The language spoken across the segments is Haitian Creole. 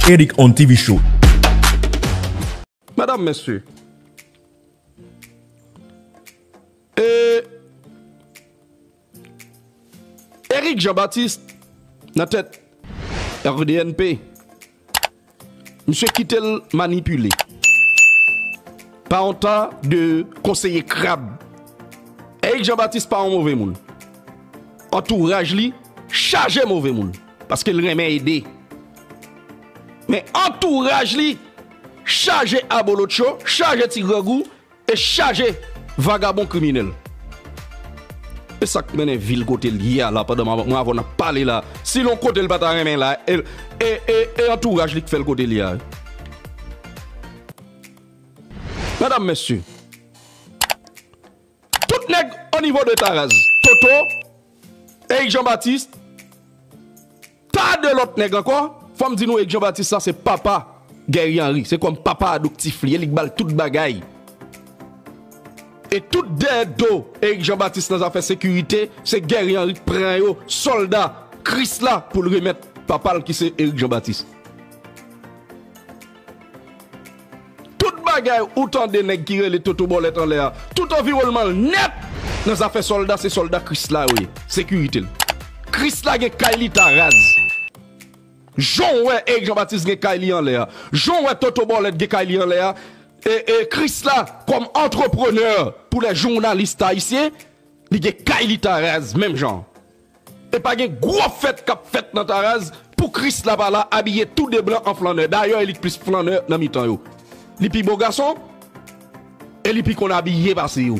Eric on TV show. Medam, mesye, e, Eric Jean Baptiste nan tèt RDNP. Misye kite l manipile pa yon ta de konseye krab. Erik Jean Baptiste pa yon move moun. Antouraj li chaje move moun. Paske l renmen ede. Men antouraj li chaje abolotcho, chaje ti grangou, E chaje vagabon kriminel. Esak mennen vil kotel ye a la pandan mwen avèw nap pale la si lon kote li pata renmen la e antouraj li ki fèl kote li ye a wi Medam mesye tout nèg onivo de taraz toto Erik jean baptiste Ta de lòt nèg ankò, fòm di nou Eg Jean Baptiste la se papa Guerrier Henry, se kòm papa adoptif li e li k bal tout bagay. E tout dèyè do Erik Jean Baptiste nan zafè sekirite se Guerrier Henry k pran yo sòlda Kris la poul remèt papal ki se Erik Jean Baptiste. Tout bagay ou tande nèg ki rele Toto Bòlèt anlè a, tout anviwònman l nèt nan zafè sòlda se sòlda Kris la yo ye, sekirite l. Kris la gen kay li ta raz. Jan w wè Erik Janbatis gen kay li anlè a, jan w wè Toto Bòlèt gen kay li anlè a, Kris la kòm antreprenè pou lè jounalis ta ayisyen, li gen kay li ta raz menm jan. Epa gen gwo fèt kap fèt nan Taraz pou Kris la pa la abiye tou de blan an flannè dayè li k plis flannè nan mitan yo li pi bo gason e li pi konn abiye pase yo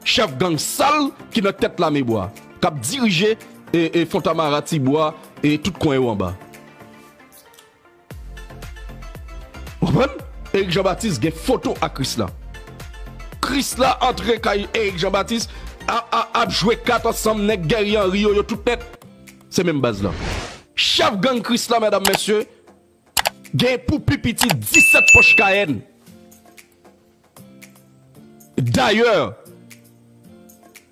chèf gang sal ki nan tèt lame bwa kap dirije fontamara tibwa e tout kwen yo anba. Ou konprann? Erik Jean Baptiste gen foto ak Krisla. Krisla antre kay Erik Jean Baptiste ap jwe kat ansanm nèg Guerrier Henry yo, yo tout nèt se menm baz la. Chèf gang Krisla medam mesye gen pou pi piti 17 pòch Cayenne. Dayè.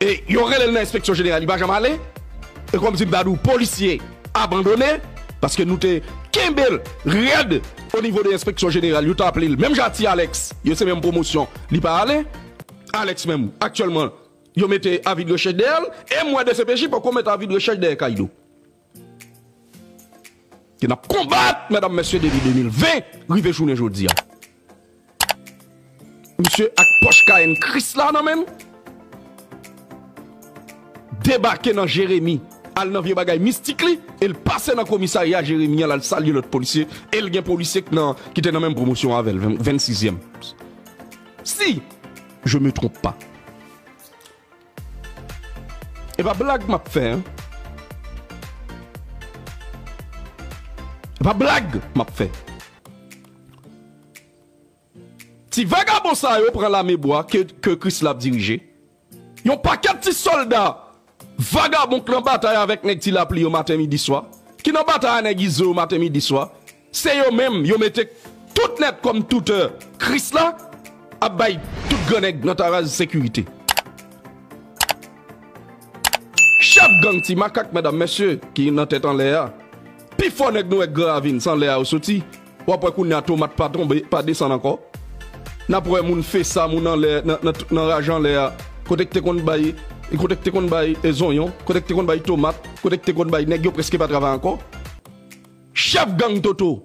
E yo rele l nan enspeksyon jeneral li pa janm ale e kòmsi m ta di w polisye abandone paske nou te kenbe l rèd onivo de enspeksyon jeneral yo t aple l menm jan a ti Alèks yo se menm pwomosyon li pa ale Alèks menm aktyèlman yo mete avi de rechèch dèyè l e m wè dcpj poko met avi de rechèch dèyè Kaydo. Ke nap konbat medam mesye depi 2020 rive jounen jodia. Misye ak poch kayenn krisla nan menl. Debake nan jeremi al nan vye bagay mistik li el pase nan komisarya jeremi an lal salye lot polisye el gen polisye kite nan menm pwomosyon avel 26 yèm si je me twonp pa. E pa blag map fè an. E pa blag map fè. Ti vagabon sa yo pran lame bwa ke Krisla ap dirije. Yon pakèt ti sòlda vagabon k nan batay avèk nèg ti lapli yo maten midi swa. Ki nan batay a nèg izo yo maten midi swa. Se yo menm yo mete tout nèt kòm toutè Kris la ap bay tout gran nèg nan Taraz sekirite. Chèf gang Ti Makak medam mesye ki nan tèt anlè a, pi fò nèg nou wè Gran Ravin san lè a yo soti w ap wè kounye a tomat pa tonbe pa desann ankò n ap wè moun fesa moun anlè nan raj anlè a kote k te konn bay kote k te konn bay zonyon kote k te konn bay tomat kote k te konn bay nèg yo prèske pa travay ankò. Chèf gang Toto.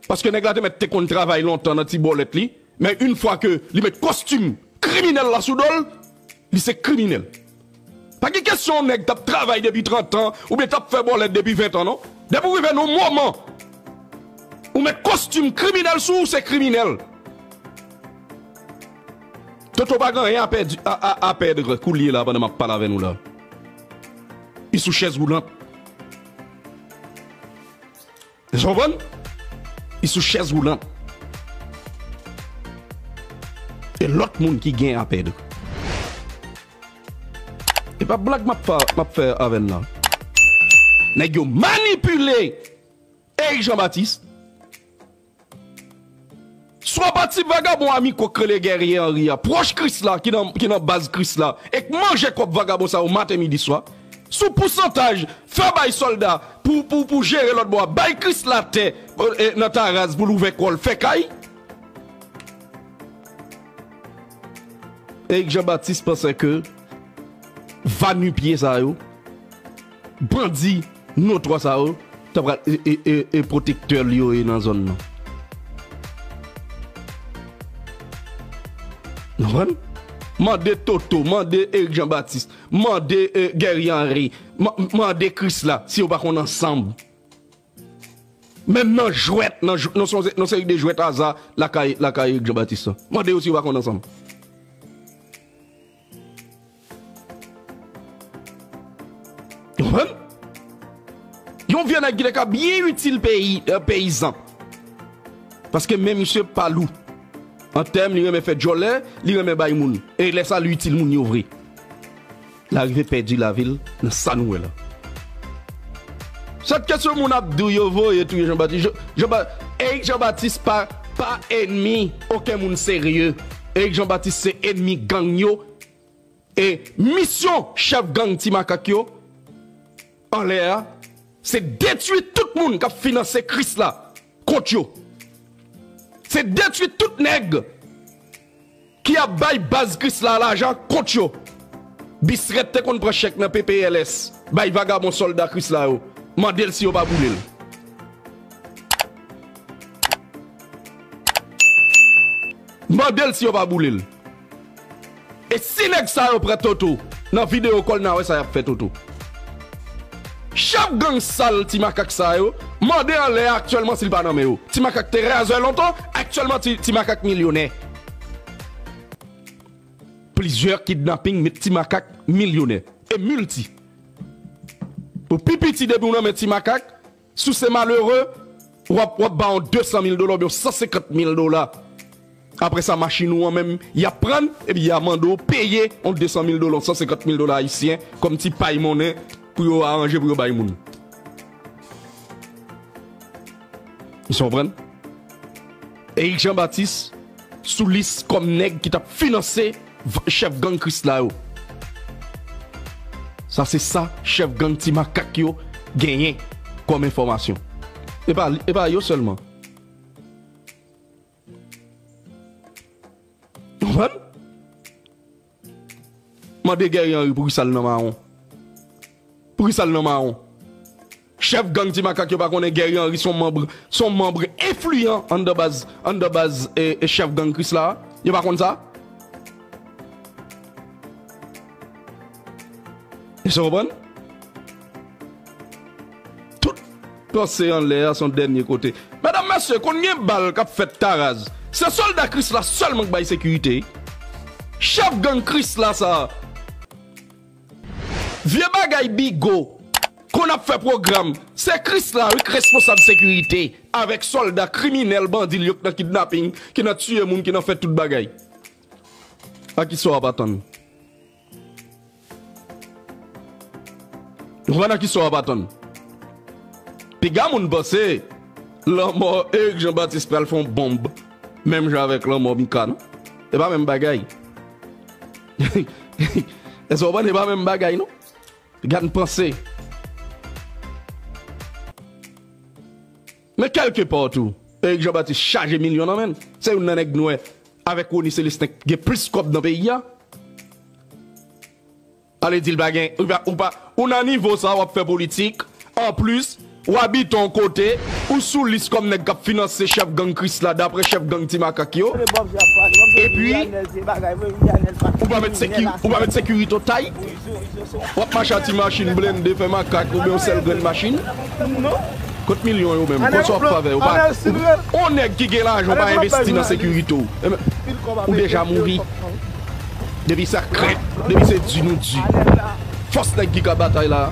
Paske nèg la te mèt te konn travay lontan nan ti bòlèt li, men yn fwa ke li met kostim kriminèl la sou dol, li se kriminèl. Pa gen kesyon yon nèg tap travay depi 30 tan oubyen tap fè bòlèt depi 20 tan non. Depi ou rive nan yon moman ou met kostim kriminèl sou ou se kriminèl. Toto pa gen anyen a pèdi a pèdre koulye la pandan map pale avè nou la. Li sou chèz woulant. Eske w konprann? Li sou chèz woulant. E lòt moun ki gen a pèdi. E pa blag m ap fè avè n lan. Nèg yo manipile Erik Jean Baptiste Swa pa ti vagabon a mikwo k rele Guerrier Henry a, pwòch Kris la, ki nan baz Kris la e k manje kòb vagabon sa yo maten midi swa. Sou pousantaj fè bay sòlda pou jere lòt bò a, bay Kris la tè nan Taraz pou l ouvè kò l fè kay. Erik Jean Baptiste pansè ke va nu-pieds sa yo. Bandi notwa sa yo ta pral e pwotektè li yo ye nan zòn nan. Nou konprann? Mande Toto, mande Erik Jan Batis, mande Guerrier Henry, mande Krisla si yo pa konn ansanm. Menm nan jwèt, nan yon seri de jwèt aza lakay Erik Jean Baptiste lan. Mande yo si yo pa konn ansanm. Ou konprann? Yon vye nèg ki te ka byen itil peyi, peyizan. Paske men misye pa lou. An tèm li renmen fè djòlè, li renmen bay moun. E lè sa li itil moun yo vre. La rive pèdi lavi l nan sa nou wè la. Sot kesyon moun ap di w yo voye touye Jean Baptiste Jean Jean Ba Eric Jean Baptiste pa pa enmi oken moun serye Eric Jean Baptiste se enmi gang yo e misyon chèf gang ti makak yo anlè a se detwi tout moun kap finanse kris la kont yo se detwi tout nèg ki ap bay baz kris la lajan kont yo bisrèt te konn pran chèk nan ppls bay vagabon sòlda kris la yo mandel si yo pa boulel. Mandel si yo pa boulel. E si nèg sa yo pran toto nan video kòl na wè sa yap fè toto. Chèf gang sal ti makak sa yo mande anlè a aktyèlman si l pa nan men yo. Ti makak te razè lontan aktyèlman ti makak milyonè. Plizyè kidnaping met ti makak milyonè e milti. Ou pi piti depi w nan men ti makak. Si w se malere, w ap ba yon 200 mil dola oubyen yon 150 mil dola. Apre sa, machin ou an menm, y ap pran l, epi y a mande w peye yon 200 mil dola, yon 150 mil dola ayisyen, kòm ti pay monnen pou yo aranje pou yo bay moun. Èske w konprann? Eric Jean Baptiste sou lis kòm nèg ki tap finanse chèf gang krisla yo. Sa se sa chèf gang ti makak yo genyen kòm enfòmasyon. E pa yo sèlman. Ou konprann? Mande Guerrier Henry pou kisa l nan mawon? Pou kisa l nan mawon? Chèf gang Ti Makak yo pa konnen Guerrier Henry s on manb s on manb enfliyan anndan baz anndan baz chèf gang Krisla a? Yo pa konn sa? Èske w konprann? Tout panse anlè a son dènye kote. Medam mesye konn gen bal kap fèt taraz se solda krisla selman k bay sekirite wi chef gang krisla sa vye bagay bigo konn ap fè program se krisla wi k responsab sekirite avek solda kriminel bandil yo k nan kidnaping ki nan tiye moun ki nan fè tout bagay a kisa wap atann. Juana kisa w ap atann? Piga moun panse lanmò Erick Jean Baptiste pral fè yon bonb menm jan avèk lanmò Mika non. E pa menm bagay. Èske w konprann e pa menm bagay non. Piga n panse. Men kèlke pa w tou, Erik Jan Batis chaje milyon nan men l. Se youn nan nèg nwè avèk Rony Celestin k gen plis kòb nan peyi a. Ale di l pa gen, ou nan nivo sa w ap fè politik, anplis w abite yon kote, ou sou lis kòm nèg k ap finanse chèf gang Krisla daprè chèf gang Ti Makak yo, epi ou pa met sekirite ou tay. Wap mache a ti machin blende fè makak oubyen yon sèl grenn machin? Kot milyon yo menm? Kot sa wap fè avè yo? Yon nèg ki gen lajan ou pa envesti nan sekirite w ou deja mouri. Depi sa krèk, depi se di nou di. Fòs nèg ki ka batay la a.